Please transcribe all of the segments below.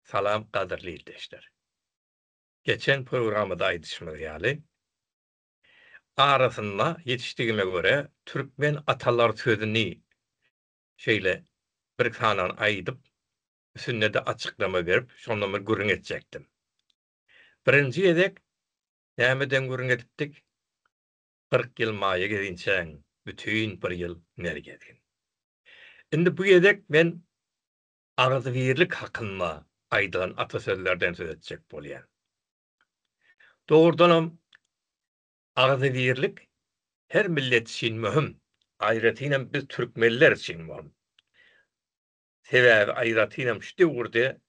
Salam gadyrly ildeşler. Geçen programmada aýdyşymyz ýaly, arasynda ýetişdigime görä türkmen atalar sözüni şeýle bir sanany aýdyp, üsünde-de açyklama berip, şondan bir gürrüň etjekdim. Birinji gezek nämeden gürrüň edipdik? Kyrk ýyl maýa gezinçäň, bütin bir ýyl ner gezgin. Indi bu gezek men agzybirlik hakynda aýdylan atasözlerden söz etjek bolýan. Dogrudanam, agzybirlik her millet üçin möhüm. Aýratynam biz türkmenler üçin möhüm. Sebäbi aýratynam şu döwürde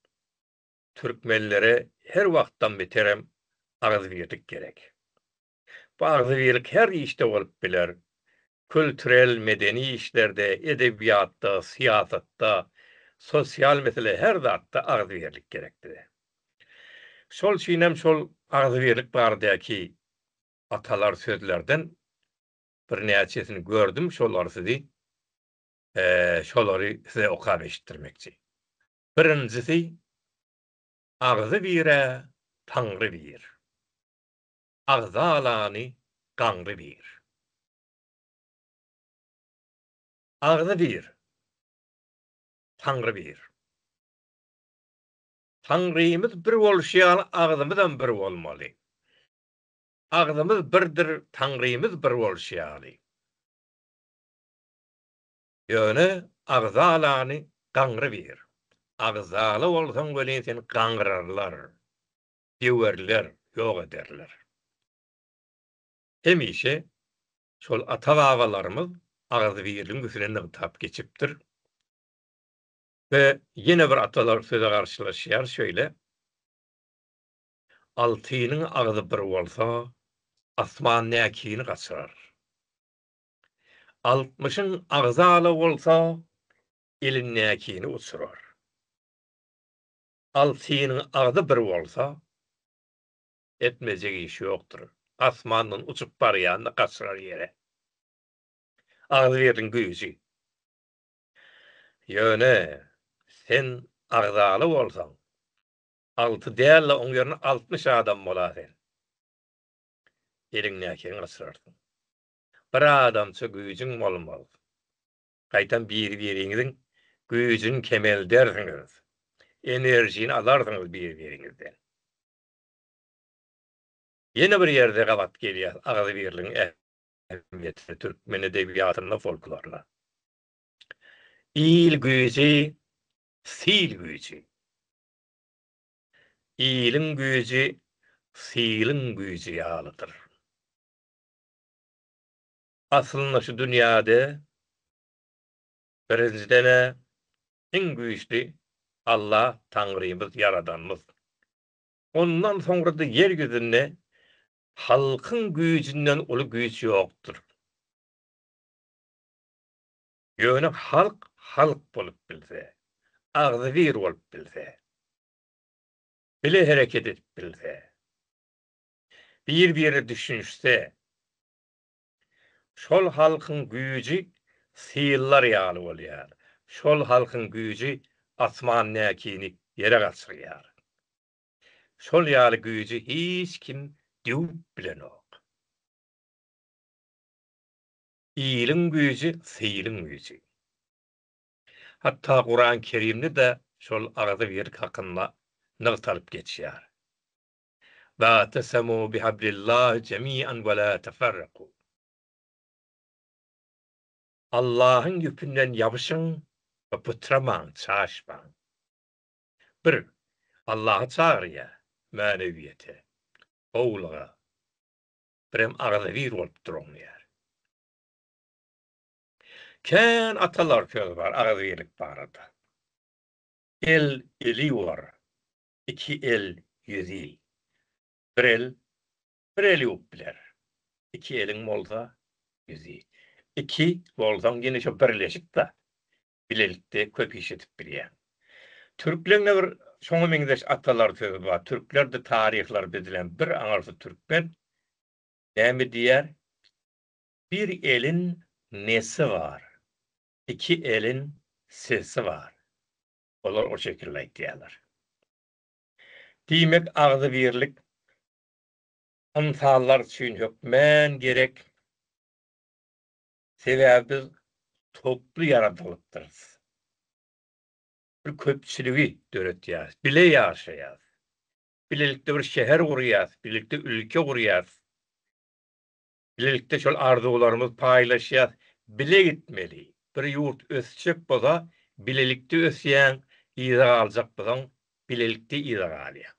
türkmenlere her wagtdan beterem agzybirlik gerek. Bu agzybirlik her işde bolup biler. Külturel, medeni işlerde, edebiýatda, syýasatda, sosial mesele her zatda agzybirlik gerekdir. Şol üçinem şol agzybirlik baradaky atalar sözlerden birnäçesini gördüm şolary sizi şolary size okap eşitdirmekçi. Birinjisi Agzy birä, Taňry bir. agza alany gaňry bir. Agzy bir. Taňry bir. Taňrymyz bir bolşy ýaly agzymyzam bir bolmaly. Agzymyz birdir Taňrymyz bir bolşy ýaly. Ýöne agza alany gaňry bir. Agzala bolsaň welin seni gaňrarlar. döwerler, ýok ederler. Hemişe şol ata-babalarymyz agzybirligiň üstüne nygtap geçipdir. We ýene bir atalar söze garşylaşýar şeýle, Altynyň agzy bir bolsa, asman näkini gaçyrar. Altmyşyň agzy ala bolsa, il näkini uçurar. Altynyň agzy bir bolsa, etmejek işi ýokdur. Asmandan uçup barýan-da gaçyrar ýere. Agzybirligiň güýji. Ýöne, sen agzaly bolsaň, alty däl-de, oň ýerine altmyş adam bola sen. Eliňdäkini gaçyrarsyň. Bir adamça güýjüň bolmaz. Gaýtam biri-biriňiziň güýjüni kemeldersiňiz, enerjini alarsyňyz biri-biriňizden. Ýene bir ýerde gabat gelýär agzybirligiň ähmiýetine türkmen edebiýatynda, folklorda. Il güýji, sil güýji. Iliň güýji siliň güýji ýalydyr. Aslynda şu dünýäde birinjiden-ä iň güýçli Alla Taňrymyz, Ýaradanmyz. Ondan soňra-da ýer ýüzünde halkyň güýjünden uly güýç ýokdur. Ýöne halk halk bolup bilse, agzybir bolup bilse, bile hereket edip bilse, bir-birine düşünişse, Şol halkyň güýji syllar ýaly bolýar, şol halkyň güýji asman näkini ýere gaçyrýar. Şol ýaly güýji hiç kim döwüp bilenok. Iliň güýji sylyň güýji. Hatda Kuran-Kerimde-de şol agzybirlik hakynda nygtalyp geçýär. Wa'tesemû bihablillahi jemi'an we lâ teferrekû. Allahyň ýüpünden ýabyşyň we pytramaň, çaşmaň. Bir, Allaha çagyrýar, mänewiýete, gowulyga, birem agzybir bolup duruň diýýär. Kän atalar söz bar agzybirlik barada. El, eli bar, iki el ýüz ýyl. Bir el bir el ýuwup biler. Iki eliň bolsa ýüz ýyl. Iki bolsaň ýene şo birleşip-de, bilelikde köp iş edip bilýäň. Türkleriň-de bir şoňa meňzeş atalar sözi bar. Türkler-de taryhlary düzülen bir aňyrsyz türkmen näme diýýär, Bir elin nesi bar, iki elin sesi bar. Olar o şekilde aýtýarlar. Diýmek, agzybirlik ynsanlar üçin hökmän gerek. Sebäbi biz toply ýaradylypdyrys. Bir köpçüligi döretýäris, bile ýaşaýarys. Bilelikde bir şäher gurýarys, bilelikde ülke gurýarys. Bilelikde şol arzuwlarymyz paýlaşýas bile gitmeli bir ýurt ösjek bolsa bilelikde ösýäň yza galjak bolsaň bilelikde yza galýaň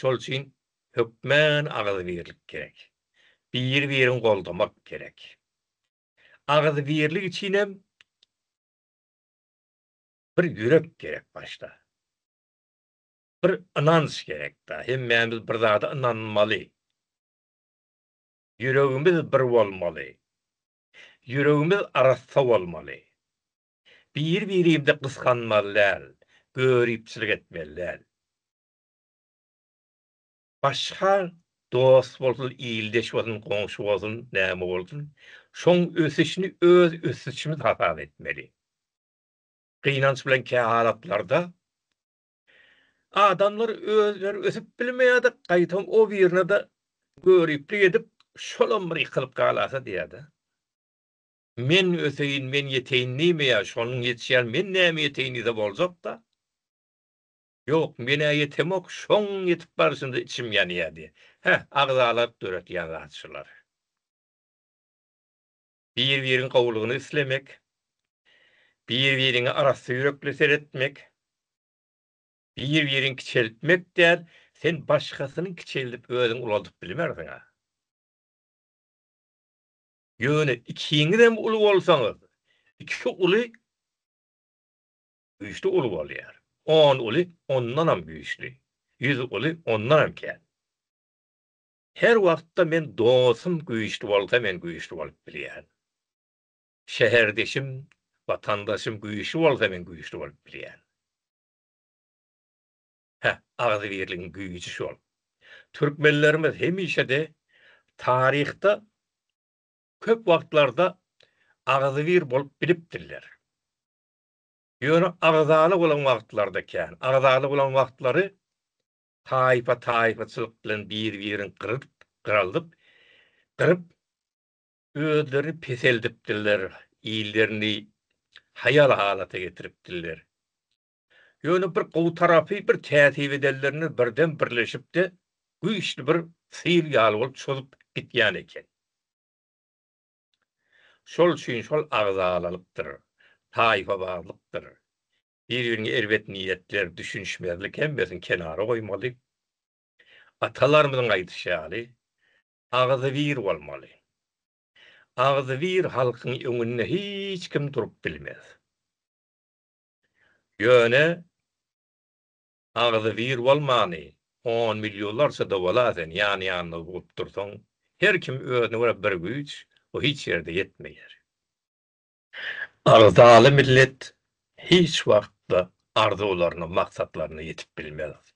şol üçin hökmän agyzybirlik gerek biri birin goldamak gerek agyzybirlik üçinem bir ýürek gerek başda bir ynanç gerek da hemmämiz bir zada ynanmaly. Ýüregimiz bir bolmaly. Ýüregimiz arassa bolmaly. Bir-birimizi gysganmaly däl, göripçilik etmeli däl. Başga dost bolsun, ildeş bolsun, goňşy bolsun, näme bolsun, şoň ösüşini öz ösüşimiz hasap etmeli. Gynanç bilen kähalatlarda Adamlar özleri ösüp bilmeýädek gaýtam o birine-de göriplik edip şolam bir ýykylyp galasa diýädä. Men öseýin, men ýeteýin diýmeýär, şonuň ýetişýän men näme ýeteýin diýse boljakda. Ýok, men-ä ýetemok, şoň ýetip barşynda içim ýanýar diýýär. Hä, agzalaryk döretýän zat şular. bir-biriň gowulygyny islemek, bir-biriňe arassa ýürekli seretmek, bir-biriňi kiçeltmek däl, sen başgasynyňky kiçeldip özüňi ulaldyp bilmersiň-ä. Ýöne ikiňizem uly bolsaňyz, iki uly güýçli uly bolýar, on uly ondanam güýçli, ýüz uly ondanam kän. Her wagtda men dostum güýçli bolsa men güýçli bolup bilýän. Şäherdeşim, watandaşym güýçli bolsa men güýçli bolup bilýän. Hä, agzybirligiň güýji şol. Türkmenlerimiz hemişede taryhda köp wagtlarda agzybir bolup bilipdirler. Ýöne agzaly bolan wagtlarda kän. Agzaly bolan wagtlary taýpa-taýpaçylyk bilen bir-birin gyryp, gyraldyp, gyryp, özlerini peseldipdirler, illerini haýal halata getiripdirler. Ýöne bir gowy tarapy, bir kätip edenlerine birden birleşip-de, güýçli bir syl ýaly bolup çozup gitýän eken. Şol üçin şol agzalalykdyr, taýpabazlykdyr, Bir-biriňe erbet niýetler, düşünişmezlik hemmesini kenara goýmaly. Atalarymyzyň aýdyşy ýaly, Agzybir bolmaly. Agzybir halkyň öňünde hiç kim durup bilmez. Ýöne agzybir bolmany on millionlarça-da bola sen ýan-ýanyna bugup dursaň, her kim özüne görä bir güýç, o hiç ýerde ýetmeýär. Agzaly millet hiç wagtda arzuwlaryna, maksatlaryna ýetip bilmez.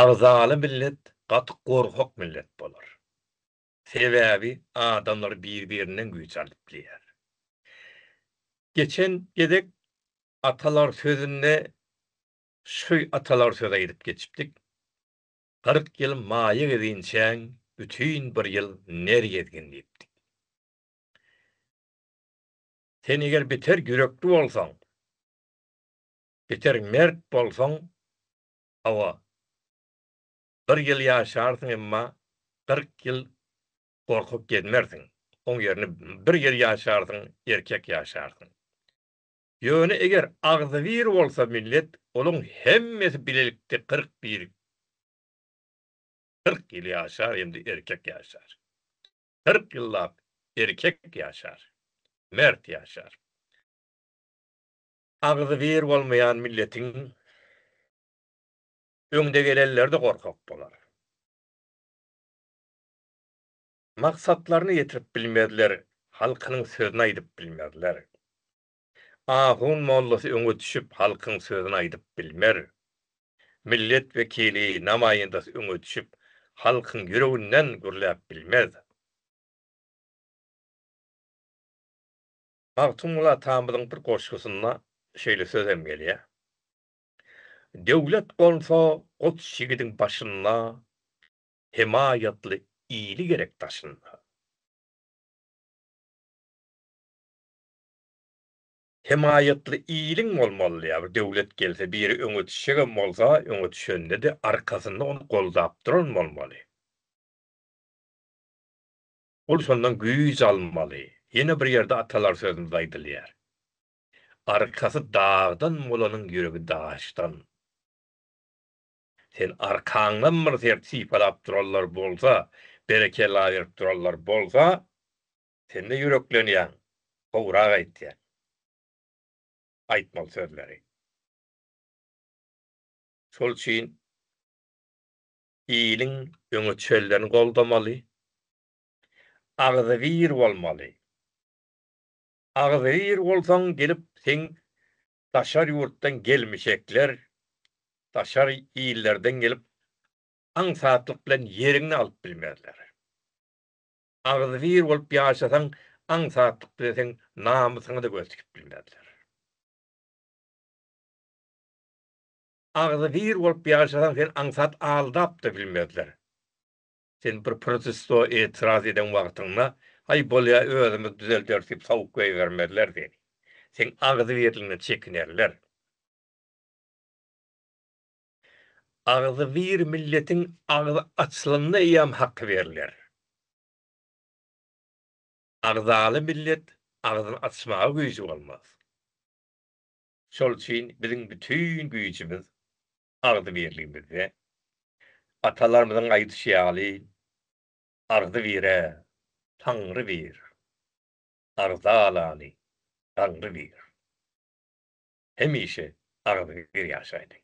Agzaly millet gaty gorkak millet bolar. Sebäbi adamlar bir-birinden güýç alyp bilýär. Geçen gezek atalar sözünde şu atalar sözi aýdyp geçipdik, Kyrk ýyl maýa gezinçäň, bütin bir ýyl ner gezgin diýipdik. Sen eger biter ýürekli bolsaň, biter mert bolsaň, hawa, bir ýyl ýaşarsyň, emma kyrk ýyl gorkup gezmersiň, oň ýerine bir ýyl ýaşarsyň, erkek ýaşarsyň. Ýöne eger agzybir bolsa millet, olaň hemmesi bilelikde kyrk bir, kyrk ýyl ýaşar hem-de erkek ýaşar. kyrk ýyllap erkek ýaşar, mert ýaşar. Agzybir bolmaýan milletiň öňdegelenleri-de gorkak bolar. Maksatlaryna ýetirip bilmezler, halkynyň sözüni aýdyp bilmezler. Ahun mollasy öňe düşüp halkyň sözüni aýdyp bilmer. Millet wekili, namaýyndasy öňe düşüp halkyň ýüreginden gürläp bilmez. Magtymguly atamyzyň bir goşgusynda şeýle söz hem gelýär, Döwlet gonsa goç ýigidiň başynda, Hemaýatly ili gerek daşynda. Hemaýatly iliň bolmaly ýa bir döwlet gelse biri öňe düşjegem bolsa öňe düşendede arkasynda ony goldap duran bolmaly. Ol şondan güýç almaly. Ýene bir ýerde atalar sözümizde aýdylýar. Arkasy dagdan bolanyň ýüregi daşdan. Sen arkaňdan bir sert sypalap duranlar bolsa, berekella berip duranlar bolsa, Sen-de ýüreklenýäň, gowrak aýtýaň. Aýtmaly sözleri. Şol üçin iliň öňe çenlerini goldamaly, agzybir bolmaly. Agzybir bolsaň gelip seň daşary ýurtdan gelmişekler, daşar illerden gelip aňsatlyk bilen ýeriňi alyp bilmezler. Agzybir bolup ýaşasaň, aňsatlyk bilen seň namysyňa-da göz tikip bilmezler. Agzybir bolup ýaşasaň, seni aňsat aldap-da bilmezler. Sen bir protesto, etiraz eden wagtyňda, Haý, bolýa, özümiz düzelderis diýip sowuk goýbermezler seni. Seň agzybirligiňden çekinerler. Agzybir milletiň agzy açlanda eýýäm haky berler. Agzaly millet agzyny açmaga güýji bolmaz. Şol üçin biziň bütin güýjümiz agzybirligimizde. Atalarymyzyň aýdyşy ýaly, Agzy bire, Taňry bir, agza alany, Daňry bir. Hemişe agzybir ýaşaýlyň!